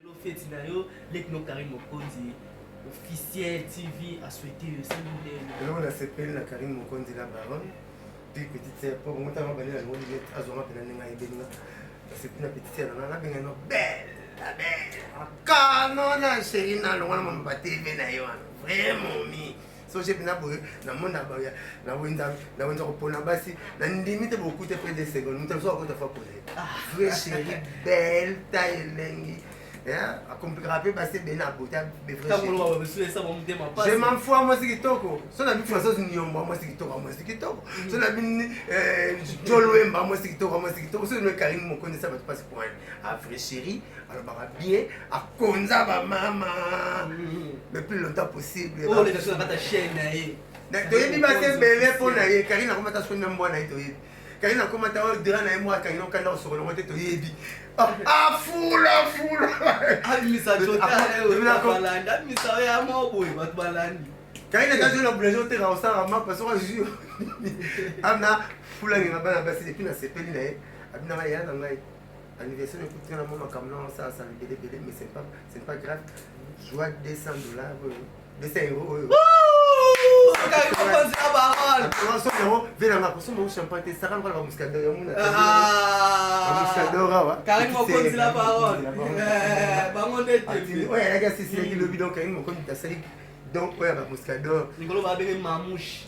Lelo feti na yo leki no Carine Mokonzi officiel TV a souhaité yo c'est modèle. Lelo na sepeli na Carine Mokonzi la baronne puis petite sœur po bongo tanga bale na ngo lilet azonga pena ninga ebeninga sepeli na petite sœur na na benga no belle la belle kano na chérie na longa na mama ba TV na yo wana vraiment mi so jebi na boye na mona baya na wenza na wenza ko pona basi na ndimi te beaucoup te près de seconde mutu so ko ta fa pose vrai chéri belle taille lengi akomplikaka mpe basi ebele na bota je m'en fous mwasi kitoko so na bifula so niomba mwasi kitoko mwasi kitoko so na bini jolwemba mwasi kitoko mwasi kitoko so no karine mokondisa bato mpasi point a vrai chéri alobaka bien akonza bamama le mm. plus longtemps possible oh, toyebi basi ebele mpo na ye karine akoma ta soni na mbwa na ye toyebi karine akoma ta oyo dra na ye mwa akangi nokanda kosokolongo te toyebi afula ah, fula karine etazwi na boulangerie oteka kosala mapa soki azwi amna fula ngenga bana basi depuis nasepeli na ye abi na ngai ya na ngai anniversaire ekuti nga na mwa makambo na osala sala ebele ebele mais c'est pas c'est pas grave joie 200 dollars oyo 200 euro oyo venanga kosomba champagne te saka lokola bamuscador ya muna bamuscador awa karine mokonzi la parole bango nde oyo ayaki asisilaki lobi donc karine mokonzi asali donc oyo ya bamuscador likolo babenge mamushe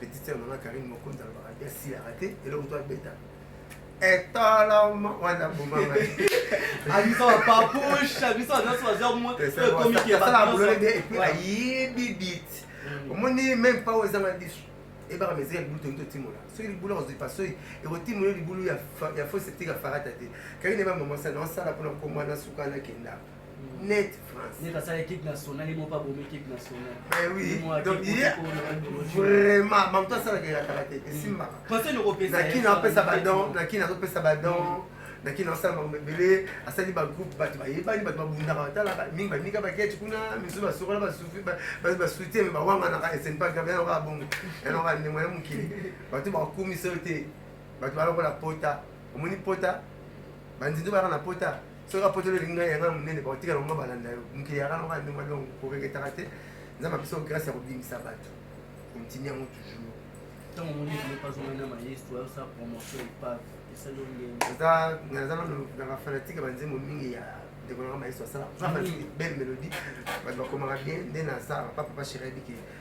petite sœur na nga Karine Mokonzi alobaka bien si ya raté eloko to abeta etalama wana bomama abiso bapapushe abiso nyonso bazwa moekomikiyasalabololede epuis ayebi bit omoni meme pa oyo ezanga biso ebaka meza ya libulu tongi totimola soki libulu akozwi pasoi ekotimola libulu ya fo septika farata te kaki neba mamasa naosala mpona komwana suka nakenda net France. Net asala équipe nationale ye moko abomi équipe nationale. Eh oui. Donc il y a vraiment bango to asala kela kala te esimbaka. Mm. Conseil noko pesa. Na kina pesa ba don, na kina ko pesa ba don. na kina asala makambo ebele asali bagroupe bato bayebani bato babundaka batalaka mingi baninga baketi kuna misusu basokola basuti me bawanganaka esenpaka yango kaka bongo yango kaka ndemo ya mokili bato bakumisa yo te bato balokola pota omoni pota banzinzo bayaka na pota soki apotoli olingi ngai yanga monene bakotika longo balanda yo mokili yaka longo ya ndenge donc koreketaka te nzambe apesa yo grâce ya kobimisa bato kontini yango toujours ntango omoni eloko azongana maestro ayosala promotion epave esali naza nano na bafanatike ya banzembo mingi ya ndeko nanga maestro asala belle mélodie bato bakomaka bien nde nasala papa papa chéri abike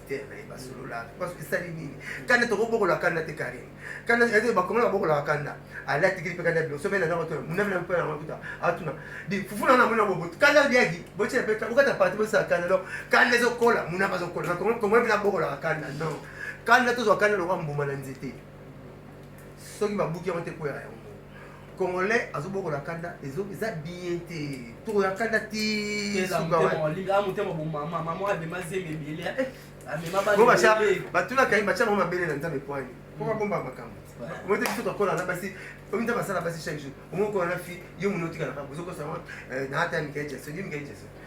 ministère na ye basololaka mpo soki esali nini kanda tokobokola kanda te karine kanda ete bakongana babokolaka kanda alatikili mpe kanda bilo sobe na nako tona munamina mpe na makuta atuna di fufu na namona bobo kanda liaki botyela mpe bokata parti bosala kanda donc kanda ezokola muna bazokola na kongo kongo mpe nabokolaka kanda non kanda tozwa kanda lokwa mbuma na nzete soki babuki yango te kwera yango Congolais azobokola kanda ezo eza bien te toko ya kanda ti suka wa linga mutema bo mama mama abema zemi ebele eh amema ba ba cha ba tula kai ba cha mama bele na nzambe poani ko ba bomba makambo moi te biso tokola na basi omi nzambe asala basi chaque jour omokola na fi yo monotika na kaka ozokosa na ata mikae jason yo mikae jason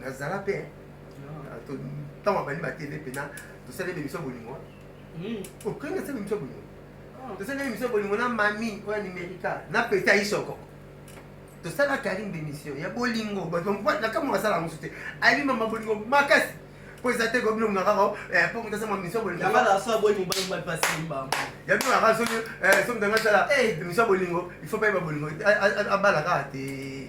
nazala mpe ntango abandi batele mpena tosali ebe miso bolingo okende asali miso bolingo tosali ebe miso bolingo na mami oyo amerika na peta isoko tosalaka alinga bemisio ya bolingo nakamwa asala yango mosusu te ayebi mama bolingo makasi mpo eza te kobino muna kaka eh, mpo moto asama misio bolingo ya bino kaka soki soki ntango asala misio bolingo il faut bayeba bolingo abala kaka te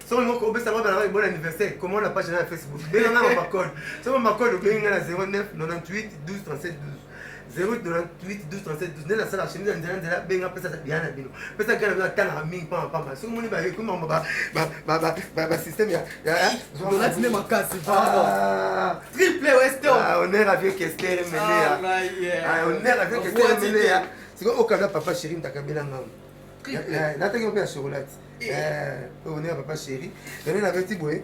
soki olingi kopesa mwana na bon anniversaire comment na page na ya facebook benga nga mama code soki mama code obengi nga na 09 98 12 37 12 08 98 12 37 12 nde nasala chemise ya nzela nzela benga pesa biya na bino pesa biya na bino atangaka mingi mpamba mpamba soki moni bayekomi bango basystème ya donati nde makasi triple wester honneur à vieux kester emelea honneur à vieux kester emelea sikoy okabla papa chéri ntakabela ngango nataki mpe ya chocolat eh. eh, one ya papa chéri yango nabeti boye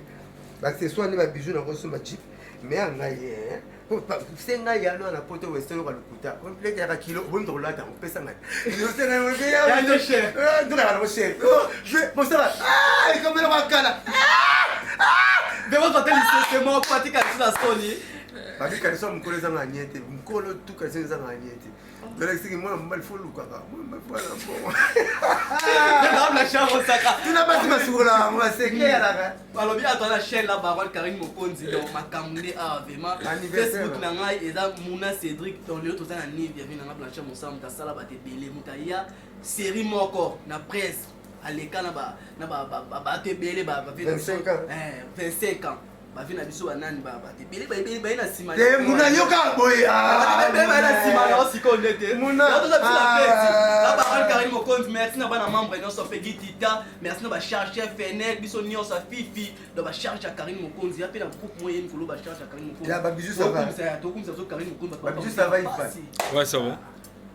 baccessoire nde babijou na kosomba chip me ya ngai eh. se ngai yano wana poto weseloka lokuta lekaka kilo oboni tokolata yango pesa ngai tokaka nango chere mosala ekomela kwakala bekozwa te lisese moko patikaliso na soni batikaliso ya mokolo ezanga anie te mokolo tukaliso ezanga anie te nalakisaki mwana mobali fo olukaka tuna basi basukolaka yango basekelaka balobi ato na chaine na barole karine mokonzi donc makambo nde awa vraimen facebook na ngai eza muna cédric tonio toza na nive ya vi na ngai blanche mosala moto asala bato ebele moto aya série moko na presse aleka na bato ebele 25 ans bavi na biso banani ebele baebele baye na nsima te muna yoka boye baye baye na nsima na osikoyo nde te toza biso na peti na baran karine mokonzi merci na bana membre nyonso mpe gitita merci na bacharge ya fenel biso nyonso afifi na bacharge ya karine mokonzi ya mpe na groupe moye ye mikolo bacharge ya karine mokonzi tokumisa biso karine mokonzi bato bapasi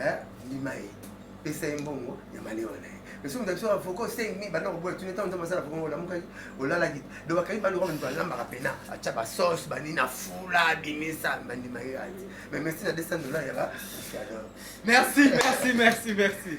eh, ndima ye pesa ye mbongo ya malewa na ye biso moto biso avoko osengi banda koboya tuni ntango nzambe asala voko olamukaki olalaki do bakangi banda okoka moto alambaka mpena atya basauce banini afula abimisa bandima ye ati mais merci na 200 dollar ya ba merci merci merci merci